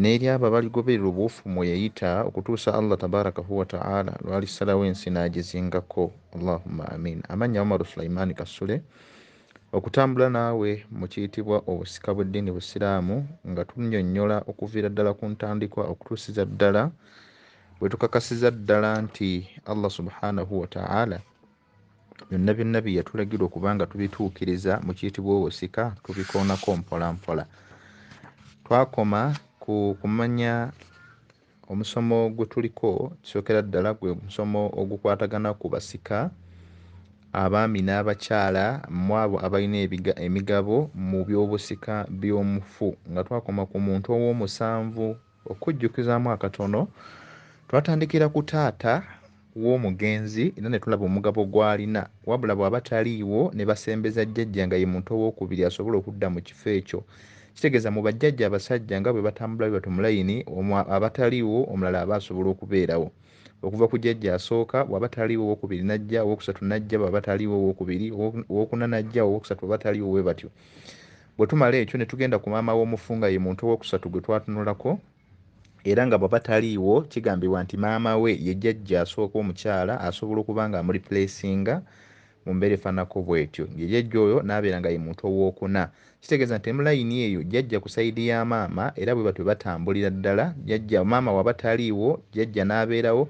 n'eri abo abaligoberera obuwufu mwe yayita okutuusa allah tabarakahu wataala lwalisalawo ensi n'agizingako allahumma amin amannya umaru sulaimaani kasule okutambula naawe mu kiyitibwa obusika bw'eddiini busiraamu nga tunyonnyola okuviira ddala ku ntandikwa okutuusiza ddala bwe tukakasiza ddala nti allah subhanahu wataala byonna byonna bye yatulagira okuba nga tubituukiriza mu kiyitibwa obusika tubikoonako mpola mpola twakoma ku kumanya omusomo gwe tuliko kisookera ddala gwe omusomo ogukwatagana ku basika abaami n'abakyala mu abo abalina emigabo mu by'obusika by'omufu nga twakoma ku muntu ow'omusanvu Okujjukizaamu akatono, twatandikira ku taata w'omugenzi era ne tulaba omugabo gw'alina wabula bw'aba taliiwo ne basembeza jjajja nga ye muntu owookubiri asobola okudda mu kifo ekyo. Kitegeeza mu bajjajja abasajja nga bwe batambula bwe batyo mu layini, omu aba taliiwo omulala aba asobola okubeerawo. Okuva ku jjajja asooka, bw'aba taliiwo owookubiri n'ajja, owookusatu n'ajja, bw'aba taliiwo owookubiri, owookuna n'ajja, owookusatu bw'aba taliiwo bwe batyo. Bwe tumala ekyo ne tugenda ku maama w'omufu nga ye muntu owookusatu gwe twatunulako era nga bw'aba taliiwo kigambibwa nti maama we ye jjajja asooka omukyala asobola okuba ng'amulipuleesinga mu mbeera efaananako bw'etyo. Ye jjajja oyo n'abeera nga ye muntu owookuna. Kitegeeza nti ne mu layini eyo jjajja ku sayidi ya maama era bwe batyo batambulira ddala, jjajja, maama w'aba taliiwo jjajja n'abeerawo,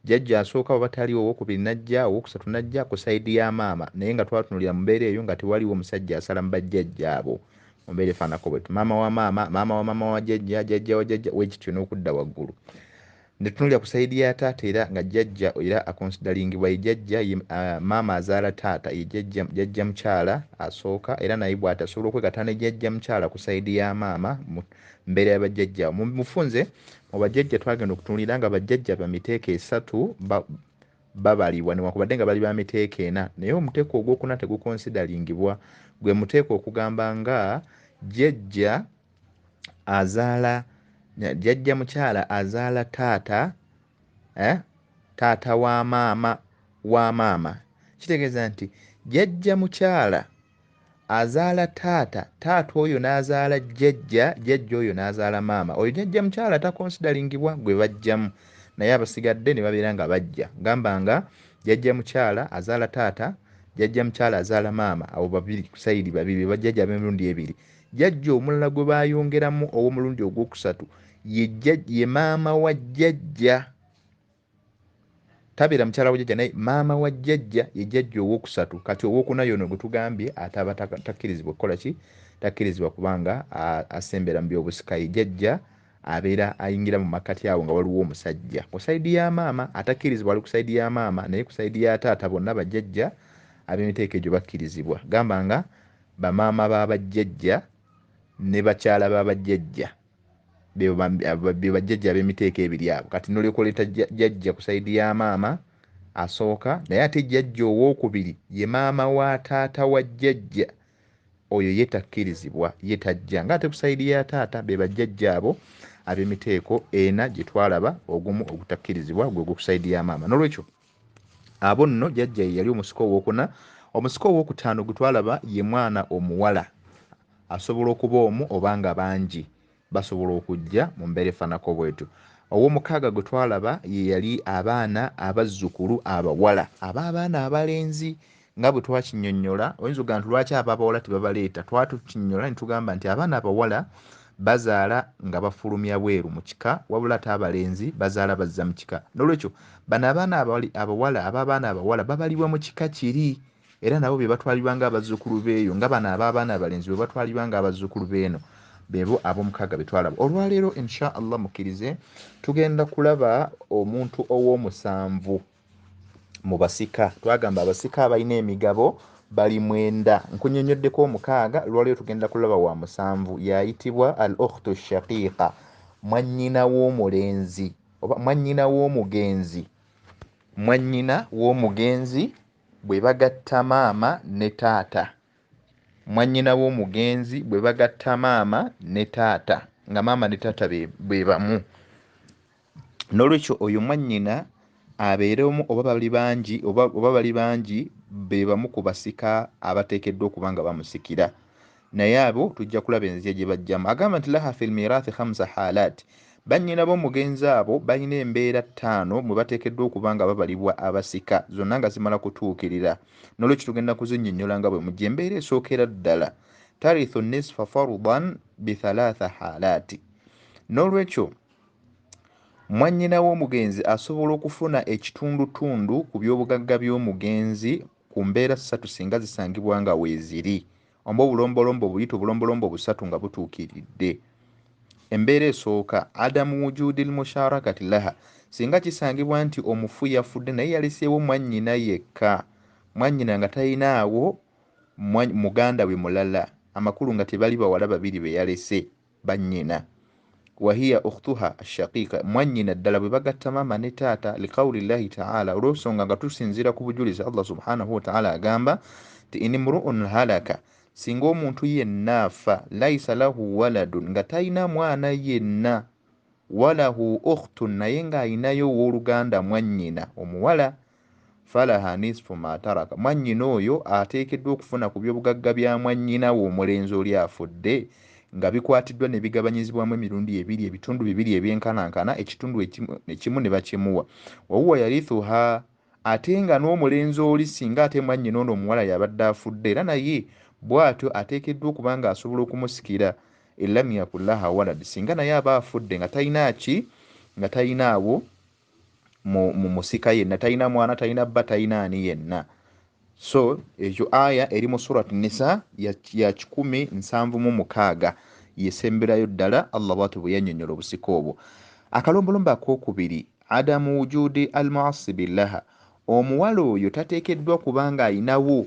Jajja asooka bwaba taliwo owokubiri najja owokusatu najja ku side ya maama naye nga twatunulira mumbeera eyo nga tewaliwo musajja asala mubajjajja abo mumbeera efaanako bwetyo maama wa maama maama wa maama wa jajja jajja wa jajja wekityo nokudda waggulu netunulira ku side ya taata era nga jajja era akonsidalingibwa ye jajja ye uh, maama azaala taata ye jajja jajja mukyala asooka era naye bwati asobola okwegata ne jajja mukyala ku side ya maama mbeera yabajjajja mufunze mu bajjajja twagenda okutunulira nga bajjajja ba miteeko esatu babalibwa newankubadde nga bali ba miteeko ena naye omuteeko ogwokuna tegukonsidalingibwa gwe muteeko okugamba nga jjajja azaala jjajja mukyala azaala taata eh, taata wa maama wa maama kitegeeza nti jjajja mukyala azaala taata taata oyo n'azaala jjajja jjajja oyo n'azaala maama oyo jjajja mukyala takonsidalingibwa gwe bajjamu naye abasigadde ne babeera nga bajja gamba nga jjajja mukyala azaala taata jjajja mukyala azaala maama abo babiri kusayidi babiri bebajjajja ab'emirundi ebiri jjajja omulala gwe baayongeramu ow'omulundi ogwokusatu ye maama wa jjajja tabeera mukyala wa jajja naye maama wa jajja ye jajja owokusatu kati owokuna yono gwetugambye ataba takkirizibwa okukola ki takkirizibwa kubanga asembera mu byobusika ye jajja abeera ayingira mu makkati awo nga waliwo omusajja ku saidi ya maama atakkirizibwa ali ku saidi ya maama naye ku saidi ya taata bonna bajajja ab'emiteeko egyo bakkirizibwa gamba nga bamaama ba bajjajja ne bakyala ba bajjajja bebajjajja abemiteeko ebiri abo kati nolekoleta jajja ku saidi ya maama asooka naye ate jajja owokubiri ye maama wa taata wa jajja oyo ye takkirizibwa ye tajja nga ate ku saidi ya taata bebajjajja abo abemiteeko ena gyetwalaba ogumu ogutakkirizibwa gwegwo ku saidi ya maama nolwekyo abo nno jajja ye yali omusika owokuna omusika owokutaano gwetwalaba ye mwana omuwala asobola okuba omu oba nga bangi basobola okujja mu mbeera efanako bwetu owomukaaga gwe twalaba ye yali abaana abazzukulu abawala aba abaana abalenzi Nga bwe twakinnyonnyola, oyinza okugamba nti lwaki ab'abawala tebabaleeta? Twali tukinnyonnyola ne tugamba nti abaana abawala bazaala nga bafulumya bweru mu kika wabula ate abalenzi bazaala bazza mu kika. Noolwekyo bano abaana abawala ab'abaana abawala babalibwa mu kika kiri era nabo be batwalibwa ng'abazzukulu b'eyo nga bano ab'abaana abalenzi bwe batwalibwa ng'abazzukulu b'eno. Beebo ab'omukaaga be twalaba. Olwaleero, in sha Allah mukkirize, tugenda kulaba omuntu ow'omusanvu. mu basika twagamba abasika abalina emigabo bali mwenda nkunyonyoddeko omukaaga lwaliyo tugenda kulaba wa musanvu yayitibwa al okhtu shaqiqa mwannyina w'omulenzi oba mwannyina w'omugenzi mwannyina w'omugenzi bwe bagatta maama ne taata mwannyina w'omugenzi bwe bagatta maama ne taata nga maama ne taata be bamu n'olwekyo oyo mwannyina abeere omu oba bali bangi oba bali bangi be bamu ku basika abateekeddwa okuba nga bamusikira naye abo tujja kulaba enzija gye bajjamu agamba nti laha filmirathi hamsa halat bannyina b'omugenzi abo balina embeera ttaano mwe bateekeddwa okuba nga babalibwa abasika zonna nga zimala kutuukirira n'olwekyo tugenda kuzinnyonnyola nga bwe mujja embeera esookera ddala tarithu nisfa farudan bithalatha halaati n'olwekyo Mwannyina w'omugenzi asobola okufuna ekitundutundu ku by'obugagga by'omugenzi ku mbeera ssatu singa zisangibwa nga weeziri. Omba obulombolombo buyite obulombolombo busatu nga butuukiridde. Embeera esooka, Adamu wujudil musharakat laha, singa kisangibwa nti omufu yafudde naye yaleseewo mwannyina yekka, mwannyina nga talinaawo muganda we mulala, amakulu nga tebali bawala babiri be yalese. bannyina wahiya ukhtuha ashaqiqa mwannyina ddala bwe bagatta maama ne taata liqauli llahi taala olw'ensonga nga tusinziira ku bujulizi allah subhanahu wataala agamba nti in mruun halaka singa omuntu yenna afa laisa lahu waladun nga talina mwana yenna walahu ukhtun naye ng'alinayo ow'oluganda mwannyina omuwala falaha nisfu ma taraka, mwannyina oyo ateekeddwa okufuna ku byobugagga bya mwannyina we omulenzi oli afudde nga bikwatiddwa ne bigabanyizibwamu emirundi ebiri, ebitundu bibiri ebyenkanankana, ekitundu ekimu ekimu ne bakimuwa, wahuwa yarithuha, ate nga n'omulenzi oli singa ate mwannyina ono omuwala y'abadde afudde era naye bw'atyo ateekeddwa okuba nga asobola okumusikira, in lam yakun laha walad, singa naye aba afudde nga talina ki? nga talinaawo. mu musika yenna talina mwana talina bba talina ani yenna so ekyo aya eri mu surat nisa ya kikumi nsanvu mu mukaaga yesemberayo ddala allah bwati bwe yanyonyola obusika obwo akalombolombo akokubiri adamu wujudi al muasibillaha omuwala oyo tateekeddwa kubanga ayinawo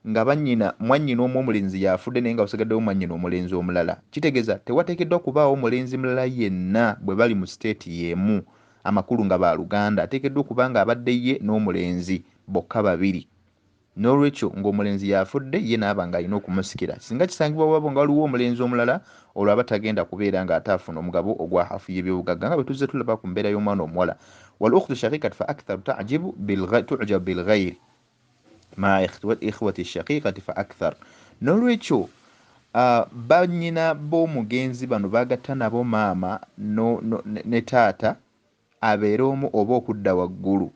nga bannyina, mwannyina omu omulenzi y'afudde naye nga wasigaddewo mwannyina omulenzi omulala, kitegeeza tewateekeddwa kubaawo mulenzi mulala yenna bwe bali mu siteeti y'emu amakulu nga ba luganda ateekeddwa okuba ng'abadde ye n'omulenzi bokka babiri. N'olwekyo ng'omulenzi y'afudde ye n'aba ng'alina okumusikira. Singa kisangibwa waba nga waliwo omulenzi omulala, olwo aba tagenda kubeera ng'ate afuna omugabo ogwa haafu y'ebyobugagga nga bwe tuzze tulaba ku mbeera y'omwana omuwala. Wal ukhtu shaqiqatu fa aktharu ta'jibu bil tu'jabu bil ghayri. ma ikhwati shakikati fa akthar nolwekyo uh, banyina b'omugenzi bano bagatta nabo maama no, no, ne taata abeere omu oba okudda waggulu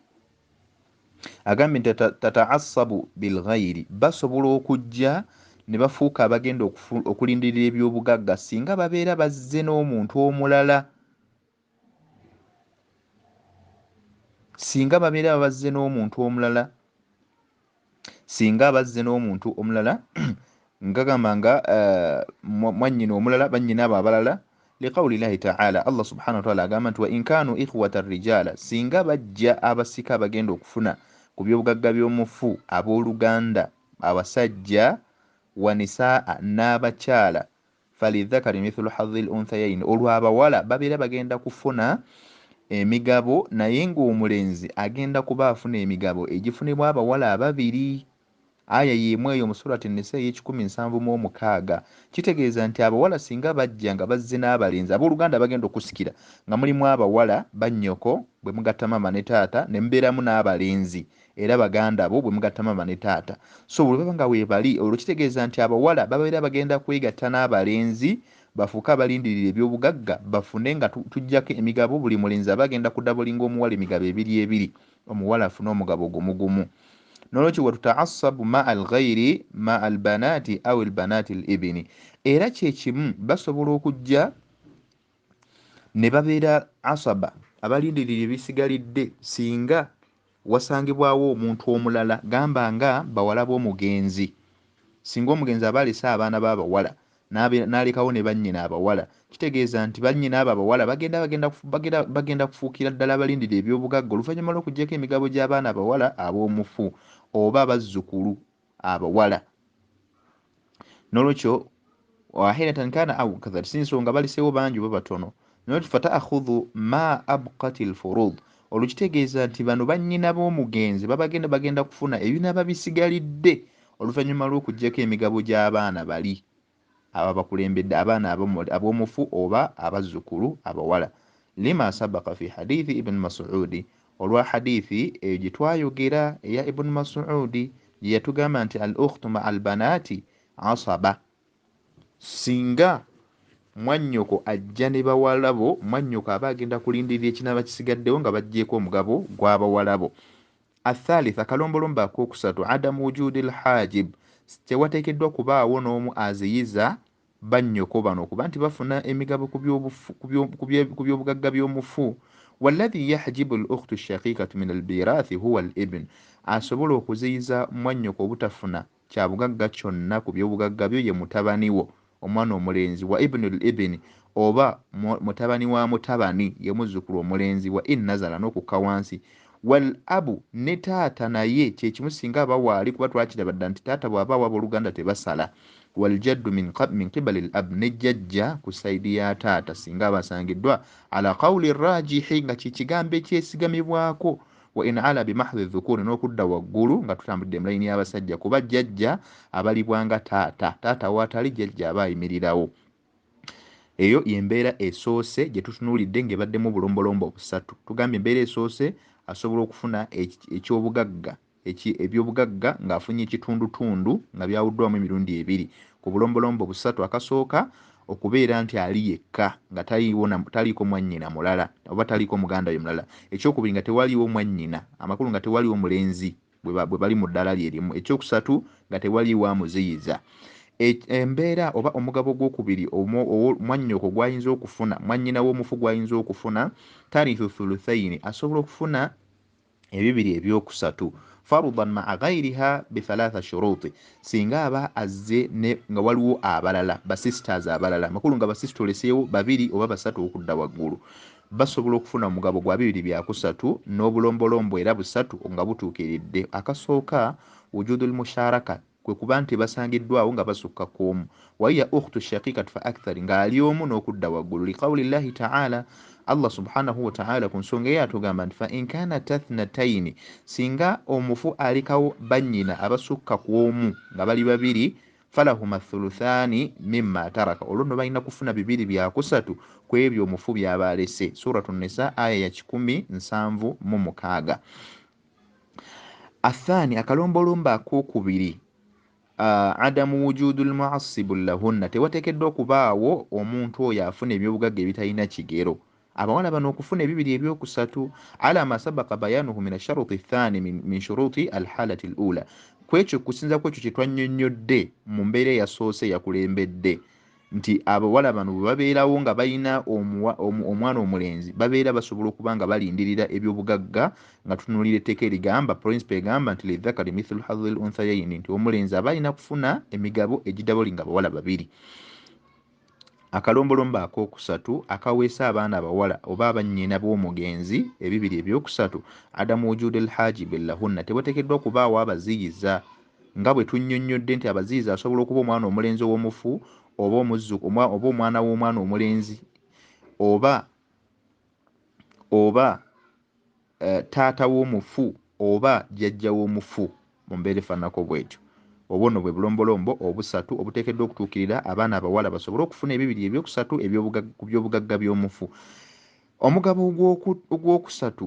agambye nti tataasabu bilghairi basobola okujja ne bafuuka abagenda okulindirira ebyobugagga singa babeera bazze n'omuntu omulala singa babeera babazze n'omuntu omulala singa abazze n'omuntu omulala ngagamba nga eh, mwannyina omulala bannyina abo abalala liqauli llahi taala allah subhana wataala agamba nti wa inkanu ikhwata rijaala singa bajja abasika abagenda okufuna ku byobugagga by'omufu ab'oluganda abasajja wanisaa n'abakyala Falidhakari mithulu hadhil unthayaini, olwo abawala babeera bagenda kufuna emigabo naye ng'omulenzi agenda kuba afuna emigabo egifunibwa abawala ababiri. Aya y'emu eyo mu Surati Nisa ey'ekikumi nsanvu mu omukaaga. Kitegeeza nti abawala singa bajja nga bazze n'abalenzi, ab'oluganda abagenda okusikira nga mulimu abawala, bannyoko, bwe mugatta maama ne taata ne mubeeramu n'abalenzi, era baganda bo bwe mugatta maama ne taata so bwe baba nga weebali olwo kitegeeza nti abawala babeera bagenda kwegatta n'abalenzi bafuuke abalindirira ebyobugagga bafune nga tujjako emigabo buli mulenzi aba agenda kudabolinga omuwala emigabo ebiri ebiri omuwala afune omugabo gumugumu nolwekyo watutaasabu ma al ghairi ma al banaati au al banaati al ibini era kyekimu basobola okujja ne babeera asaba abalindirira ebisigalidde singa wasangibwawo omuntu omulala gamba nga bawala b'omugenzi, singa omugenzi aba alese abaana be abawala n'alekawo ne bannyina abawala, kitegeeza nti bannyina abo abawala bagenda bagenda bagenda kufuukira ddala abalindira eby'obugagga oluvannyuma lw'okuggyako emigabo gy'abaana abawala ab'omufu oba abazzukulu abawala nolwekyo wahiratan kana au kathar si nsonga baliseewo bangi oba batono nolwekyo fataakhudhu ma abkat lfurud olwo kitegeeza nti bano bannyina b'omugenzi babagenda bagenda kufuna ebinaaba bisigalidde oluvannyuma lw'okugyako emigabo gy'abaana bali ababakulembedde abaana ab'omufu oba abazzukulu abawala lima sabaka fi hadithi ibn masudi olwa hadithi eyo gye twayogera eya ibn masudi gye yatugamba nti al ukhtu maa albanaati asaba singa mwannyoko ajja ne bawalabo mwannyoko aba agenda kulindirira ekinaaba kisigaddewo nga baggyeeko omugabo gw'abawalabo Athalitha, akalombolombo akookusatu, Adamu wujuudi lhaajib, Tewateekeddwa kubaawo n'omu aziyiza bannyoko bano okuba nti bafuna emigabo ku by'obugagga by'omufu. Walladhi yahjibu lukhtu shaqiikatu min albiiraathi huwa alibn, Asobola okuziyiza mwannyoko obutafuna Kya bugagga kyonna ku by'obugagga byo ye mutabani wo, omwana omulenzi, wa ibnul ibni, oba mu, mutabani wa mutabani, ye muzzukulu omulenzi, wa in nazala, n'okukka wansi, wal abu, ne taata naye kye kimu singa aba waali, kuba twakiraba dda nti taata bw'abaawo ab'oluganda tebasala, wal jaddu min, min qibalil ab, ne jjajja ku sayidi ya taata singa aba asangiddwa, ala qawli raajihi, nga kye kigambo ekyesigamibwako wa in ala bimahdhi dhukuri n'okudda waggulu nga tutambudde mu layini y'abasajja kuba jjajja abalibwa nga taata taata waatali jjajja aba ayimirirawo eyo yembeera esoose gye tutunuulidde ng'ebaddemu obulombolombo obusatu tugambye embeera esoose asobola okufuna ekyobugagga ebyobugagga ng'afunye ekitundutundu nga byawuddwamu emirundi ebiri ku bulombolombo busatu akasooka okubeera nti ali yekka nga taliiko mwannyina mulala oba taliiko muganda we mulala, ekyokubiri nga tewaliwo mwannyina, amakulu nga tewaliwo mulenzi bwe bali mu ddaala lye limu, ekyokusatu nga tewaliwo amuziyiza. E, embeera oba omugabo gwokubiri mwannyoko gwayinza okufuna, mwannyina w'omufu gwayinza okufuna, tarithu thuluthaini, asobola okufuna ebibiri ebyokusatu farudan maa ghairiha bithalatha shuruti singa aba azze nga waliwo abalala basisters abalala makulu nga basista oleseewo babiri oba basatu okudda waggulu basobola okufuna omugabo gwa bibiri byakusatu n'obulombolombo era busatu nga butuukiridde akasooka wujudu lmusharaka kwe kuba nti basangiddwawo nga basukka ku omu waiya ukhtu shakikat fa akthari ng'ali omu n'okudda waggulu liqawuli llahi taala allah subhanahu wataala ku nsonga eyo atugamba nti fa inkana tathnataini singa omufu alikawo bannyina abasukka ku omu nga bali babiri falahuma thuluthani mima taraka olwo nno balina kufuna bibiri byakusatu ku ebyo omufu byaba alese suratu nisa aya ya kikumi nsanvu mu mukaaga athani akalombolombo akokubiri uh, adamu wujudu lmuasibu lahunna tewatekeddwa okubaawo omuntu oyo afuna ebyobugagga ebitalina kigero abawala bano okufuna ebibiri ebyokusatu ala masabaka bayanuhu min asharuti thani min shuruti alhalati lula kwekyo kusinza kwekyo kyetwanyonyodde mu mbeera eyasoose yakulembedde nti abawala bano bwe babeerawo nga balina omwana omulenzi babeera basobola okuba nga balindirira ebyobugagga nga tunuulira etteeka erigamba principe egamba nti lidhakari mithlu hadhil unthayaini nti omulenzi aba alina kufuna emigabo egidaboli nga abawala babiri akalombolombo akookusatu akaweesa abaana abawala oba abannyina b'omugenzi ebibiri ebyokusatu adamu wujude lhaji billahunna tebatekeddwa kubaawo abaziyiza Nga bwe tunnyonnyodde nti abaziyiza asobola okuba omwana omulenzi ow'omufu oba omuzzu, omwa, oba omwana w'omwana omulenzi oba oba eh, taata w'omufu oba jjajja w'omufu mu mbeera efaananako bw'etyo. Obwo nno bwe bulombolombo obusatu obuteekeddwa okutuukirira abaana abawala basobole okufuna ebibiri eby'okusatu eby'obugagga ku by'obugagga by'omufu. Omugabo ogw'oku, ogw'okusatu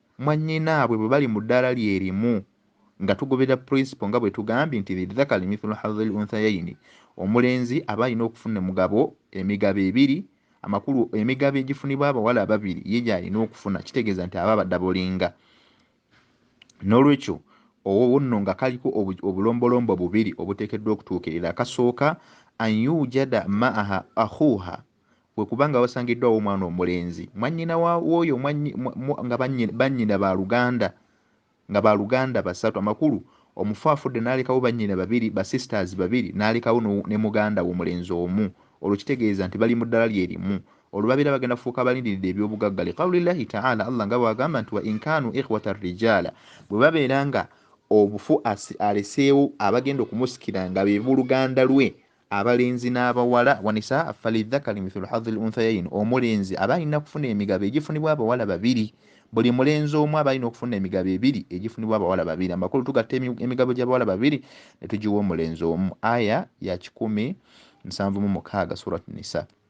mwannyinaabwe bwe bali mu ddaala lye limu nga tugoberera purinsipo nga bwe tugambye nti lidhakari mithulu hadhil unthayaini omulenzi aba alina okufuna emugabo emigabo ebiri amakulu emigabo egifunibwa abawala ababiri ye gy'alina okufuna kitegeeza nti aba abadabolinga n'olwekyo owo nno nga kaliko obulombolombo bubiri obuteekeddwa okutuukirira akasooka an yujada maaha ahuuha bwe kuba nga wasangiddwawo omwana omulenzi mwannyina w'oyo nga bannyina ba luganda nga ba luganda basatu amakulu omufu afudde n'alekawo bannyina babiri ba sisters babiri n'alekawo ne muganda we omulenzi omu olwo kitegeeza nti bali mu ddala lye limu olwo babeera bagenda kufuuka abalindiridde eby'obugagga li qaulillahi taala allah nga bw'agamba nti wa inkaanu ikhwata rijaala bwe babeera nga obufu aleseewo abagenda okumusikira nga be buluganda lwe Abalenzi n'abawala, wanisaa falidhakari mithulu hadhil unthayaini, omulenzi aba alina kufuna emigabo egifunibwa abawala babiri, buli mulenzi omu aba alina okufuna emigabo ebiri egifunibwa abawala babiri, amakulu tugatta emigabo gy'abawala babiri ne tugiwa omulenzi omu, Aya ya kikumi nsanvu mu mukaaga, Surat Nisa.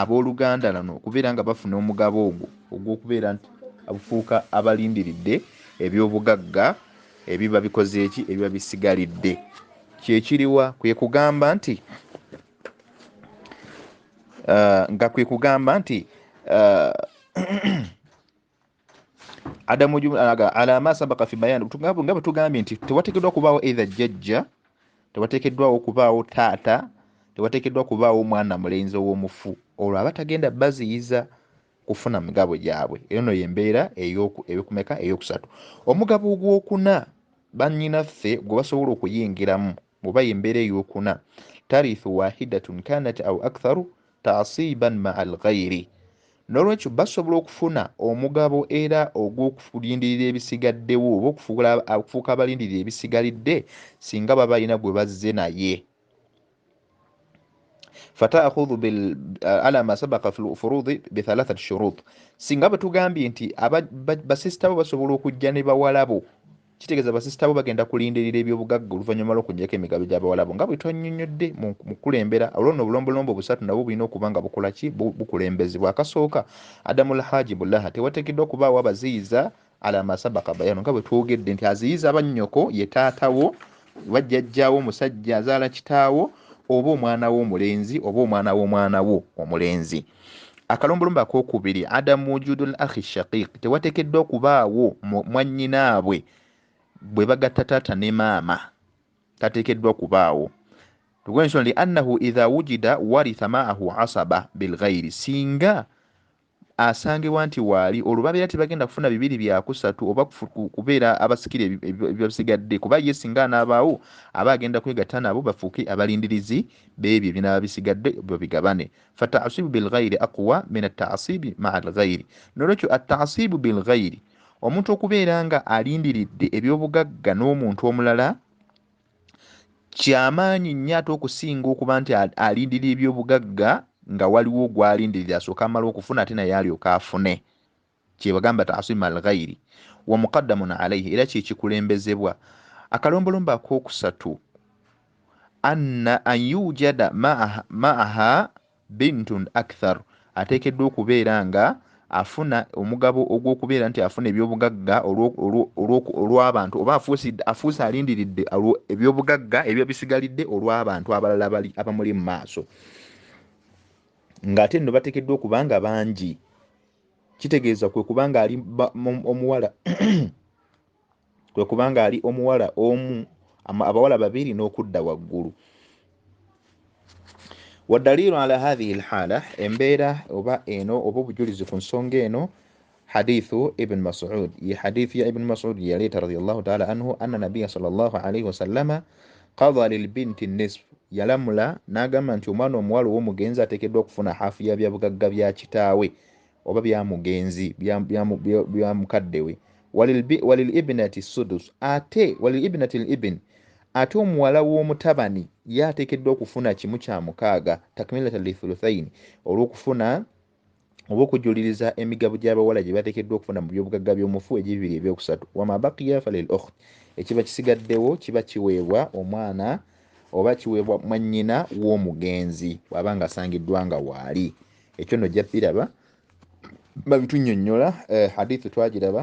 ab'oluganda lano okubeera nga bafuna omugabo ogwo ogw'okubeera nti abufuuka abalindiridde eby'obugagga ebiba bikoze eki ebiba bisigalidde kyekiriwa kwe kugamba nti uh, nga kwe kugamba nti uh, adamu jumlaga ala ma sabaka fi bayan tugabu ngaba tugambi nti tewatekedwa kubawo either jajja tewatekedwa okubawo tata tewatekedwa kubawo mwana mulenzi owomufu olwo abatagenda baziyiza kufuna mugabo gyabwe eno no yembeera eyokumeka eyokusatu omugabo ogwokuna banyinaffe gwe basobola okuyingiramu oba yembeera eyokuna tarithu wahidatun kanat au aktharu tasiban maa alghairi nolwekyo basobola okufuna omugabo era ogwokulindirira ebisigaddewo oba okufuuka abalindirira ebisigalidde singa baba balina gwe bazze naye fataakhudhu ala ma sabaka fi lfurudi bithalathat shurut singa bwetugambye nti basisita bo basobola okujja ne bawalabo Kitegeeza basisita bo bagenda kulindirira ebyobugagga oluvannyuma lw'okunjako emigabo egy'Abawalabu nga bwe twannyonnyodde mu kukulembera. Olwo nno obulombolombo busatu nabwo bulina okuba nga bukola ki? Bukulembezebwa. Akasooka, Adamu Al-Haaji Bulaha, tewateekeddwa kubaawo abaziyiza ala ma sabaka bayaanu nga bwe twogedde nti aziyiza bannyoko ye taata wo oba jjajja wo musajja azaala kitaawo oba omwana wo omulenzi oba omwana w'omwana wo omulenzi. Akalombolombo ak'okubiri, Adamu wujudul akhi shaqiq, tewatekeddwa okubaawo mwannyinaabwe bwe bagatta taata ne maama, tatekeddwa okubaawo lw'ensonga li annahu idha wujida waritha maahu asaba bilghairi, singa asangibwa nti waali olwo babeera tebagenda kufuna bibiri byakusatu oba kubeera abasikira ebibasigadde kuba ye singa anaabaawo aba agenda kwegatta nabo bafuuke abalindirizi b'ebyo ebinaaba bisigadde babigabane fatasibu bilghairi aqwa min atasibi maa lghairi nolwekyo atasibu bilghairi omuntu okubeera nga alindiridde ebyobugagga n'omuntu omulala kyamaanyi nnyo ate okusinga okuba nti alindirira ebyobugagga nga waliwo gwalindirira asooka amala okufuna ate naye alyoka afune kyebagamba taasima alghairi wa muqaddamun alaihi era kyekikulembezebwa akalombolombo akokusatu anna an yujada maaha bintun akthar ateekeddwa okubeera nga afuna omugabo ogw'okubeera nti afuna ebyobugagga olw'abantu oba afuuse alindiridde ebyobugagga ebiba bisigalidde olw'abantu abalala bali abamuli mu maaso ng'ate nno bateekeddwa okuba nga bangi kitegeeza kwe kuba ng'ali omuwala kwe kuba ng'ali omuwala omu abawala babiri n'okudda waggulu wadaliiru ala hathihi lhaala embeera oba eno oba obujulizi ku nsonga eno hadithu ibn masud ye hadithu ya ibn masud yeyaleeta radiallahu taala anhu anna nabiya sal llahu alaihi wasallama Qadha lil binti nisf, yalamula n'agamba nti omwana omuwala ow'omugenzi ateekeddwa okufuna haafu ya bya bugagga bya kitaawe oba bya mugenzi bya mukadde we, walil ibnati sudus ate walil ibnati l ibn ate omuwala w'omutabani ye ateekeddwa okufuna kimu kya mukaaga takmilatan li thuluthaini olw'okufuna oba okujuliriza emigabo gy'abawala gye bateekeddwa okufuna mu byobugagga by'omufu egibiri ebyokusatu wama bakiya falil okht ekiba kisigaddewo kiba kiweebwa omwana oba kiweebwa mwannyina w'omugenzi bw'aba ng'asangiddwa nga waali ekyo nno ojja biraba babitunnyonnyola eh, hadithu twagiraba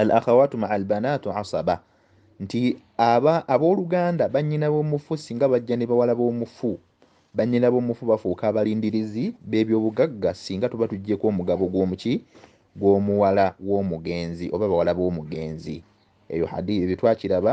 al akhawatu maa albanatu asaba nti aba abooluganda bannyina b'omufu singa bajja ne bawala b'omufu bannyina b'omufu bafuuka abalindirizi b'ebyobugagga singa tuba tuggyeko omugabo gw'omuki gw'omuwala w'omugenzi oba bawala b'omugenzi eyo hadi ebyo twakiraba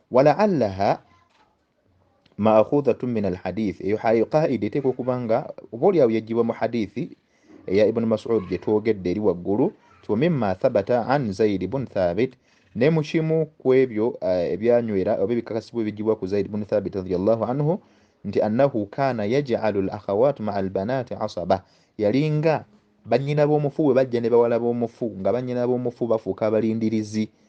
walaalaha maakhudhatu min alhadith eyo hayo qaida eteeka okuba nga oba olyawo yajjibwa mu hadithi eya ibuni masud gye twogedde eri waggulu tiwa mima thabata an zaidi bun thabit ne mu kimu ku ebyo eh, ebyanywera oba ebikakasibwa ebijjibwa ku zaidi bun thabit radiallahu anhu nti annahu kaana yajalu l akhawat maa albanati asaba yalinga bannyina b'omufu bwe bajja ne bawala b'omufu nga bannyina b'omufu bafuuka abalindirizi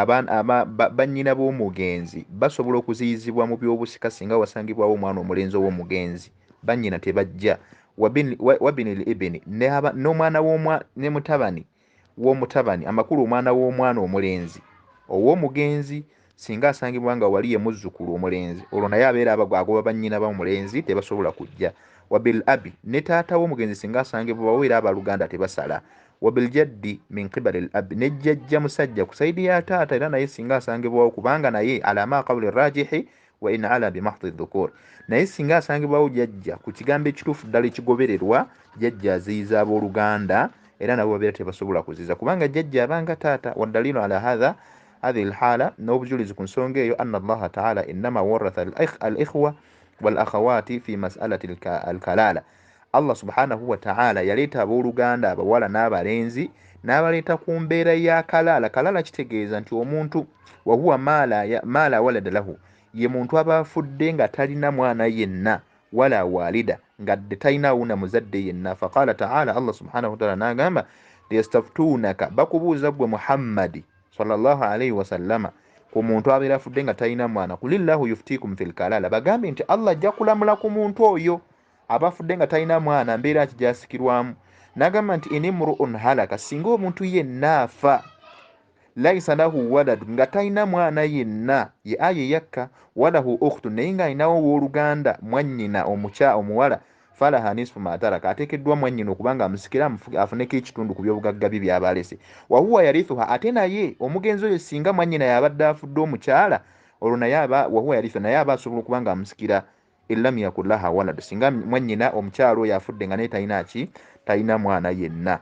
Abaana aba, ba, bannyina b'omugenzi basobola okuziyizibwa mu by'obusika singa wasangibwawo omwana omulenzi ow'omugenzi. Bannyina tebajja. Wabin, wa, wabinil ibini, ne aba, n'omwana w'omwa, ne mutabani w'omutabani, amakulu omwana w'omwana omulenzi ow'omugenzi singa asangibwa nga wali ye muzzukulu omulenzi, olwo naye abeera aba, agoba bannyina b'omulenzi, tebasobola kujja. Wabil abi, ne taata w'omugenzi singa asangibwawo era abaluganda tebasala. wabiljaddi min qibali l ab ne jjajja musajja ku saidi ya taata era naye singa asangibwawo kubanga naye alama qawuli rajihi wa in ala bimahdi dhukur naye singa asangibwawo jajja ku kigambo ekituufu ddala ekigobererwa jajja aziyiza abooluganda era nabo babeera tebasobola kuziza kubanga jajja abanga taata wadalilu ala hatha hadhihi lhala n'obujulizi ku nsonga eyo anna allaha taala innama waratha al ikhwa wal akhawati fi masalati al kalala Allah subhanahu wa ta'ala yaleeta abooluganda abawala n'abalenzi n'abaleeta ku mbeera ya kalaala kalaala kitegeeza nti omuntu wahuwa maala walada lahu ye muntu aba afudde nga talina mwana yenna wala walida nga dde talina wuna muzadde yenna faqala taala allah subhanahu wataala n'agamba yastaftuunaka bakubuuza ggwe muhammadi salllahu alaihi wasallama ku muntu abeera afudde nga talina mwana kulillahu yuftikum fi lkalaala bagambe nti allah ajja kulamula ku muntu oyo aba afudde nga talina mwana mbeera ki gyasikirwamu nagamba nti inimruun halaka singa omuntu yenna afa laisa lahu walad nga talina mwana yenna ye aya eyakka walahu ukhtu naye ng'alinawo ow'oluganda mwannyina omukya omuwala falaha nisfu mataraka ateekeddwa mwannyina okuba nga amusikira afuneko ekitundu ku byobugagga bye byaba alese wahuwa yarithuha ate naye omugenzi oyo singa mwannyina yabadde afudde omukyala olwo naye aba wahuwa yarithu naye aba asobola okuba nga amusikira illam yakun laha walad singa mwanyina omukyalo oyo afudde nga naye talina ki talina mwana yenna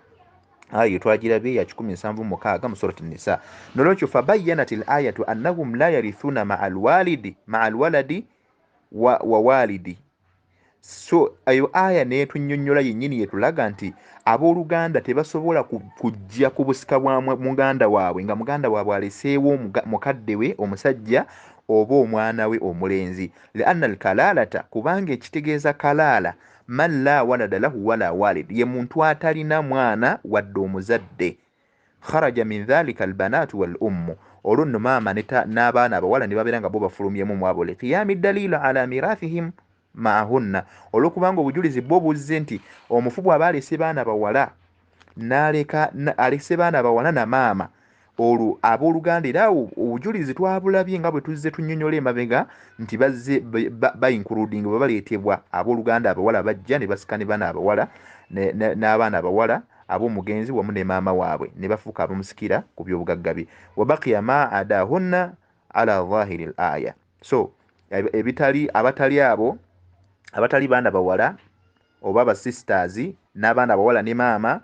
ayo twagirabye ya kikumi nsanvu mukaaga mu surat nisa nolwekyo fabayanat l ayatu annahum la yarithuna maa lwalidi maa lwaladi wa, wa walidi so eyo aya netunyonyola yenyini yetulaga nti abooluganda tebasobola kujja ku busika bwa muganda waabwe nga muganda waabwe aleseewo mukadde we omusajja oba omwana we omulenzi lianna alkalalata kubanga ekitegeeza kalaala man la walada lahu wala walid ye muntu atalina mwana wadde omuzadde kharaja min dhalika albanatu wal ummu olwo nno maama n'abaana abawala ne babeera nga bo bafulumyemu mwabo liqiyami dalilu ala mirathihim maahunna olwokubanga obujulizi bwo buzze nti omufu bw'aba alese baana bawala n'aleka alese baana bawala na maama olwo abooluganda era awo obujulizi twabulabye nga bwe tuzze tunnyonnyola emabega nti bazze bayinkuludinga bwe baleetebwa abooluganda abawala bajja ne basika ne baana abawala n'abaana abawala ab'omugenzi wamu ne maama waabwe ne bafuuka abamusikira ku by'obugagga bye wabakiya ma adahunna ala zahiri l aya so ebitali abatali abo abatali baana bawala oba basisters n'abaana bawala ne maama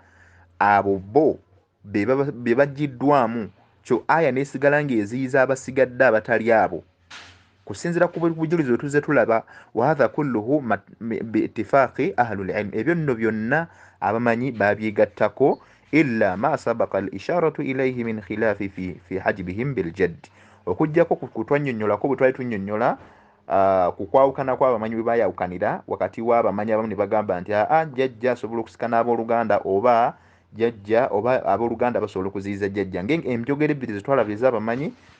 abo bo be bajjiddwamu kyo aya nesigala ng'eziyiza abasigadde abatali abo kusinzira ku bujulizi bwe tuzze tulaba wahatha kulluhu biitifaaqi ahlulilmu ebyo nno byonna abamanyi babyegattako illa ma sabaka al isharatu ilaihi min khilafi fi, fi hajibihim biljaddi okujjako kutwanyonyolako bwe twali tunyonyola uh, ku kwawukana kw'abamanyi bwe bayawukanira wakati w'abamanyi abamu ne bagamba nti aa jjajja asobola okusikana abooluganda oba jjajja oba abooluganda basobola okuziyiza jjajja nge enjogera ebbiri zetwalaba ez'abamanyi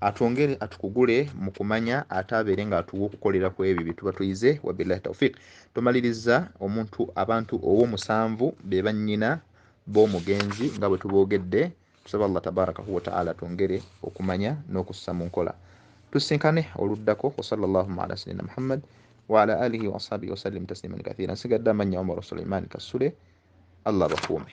atwongere atukugule mu kumanya ate abeere ng'atuwa okukolera ku ebyo bye tuba tuyize wabillahi taufiq tumaliriza omuntu abantu ow'omusanvu be bannyina b'omugenzi nga bwe tuboogedde tusaba allah tabarakahu wataala twongere okumanya n'okussa mu nkola tusinkane oluddako wasala llahuma ala sayidina muhammad waala alihi waashabihi wasallim tasliman kathira nsigadde amannya omaru suleiman kasule allah bakuume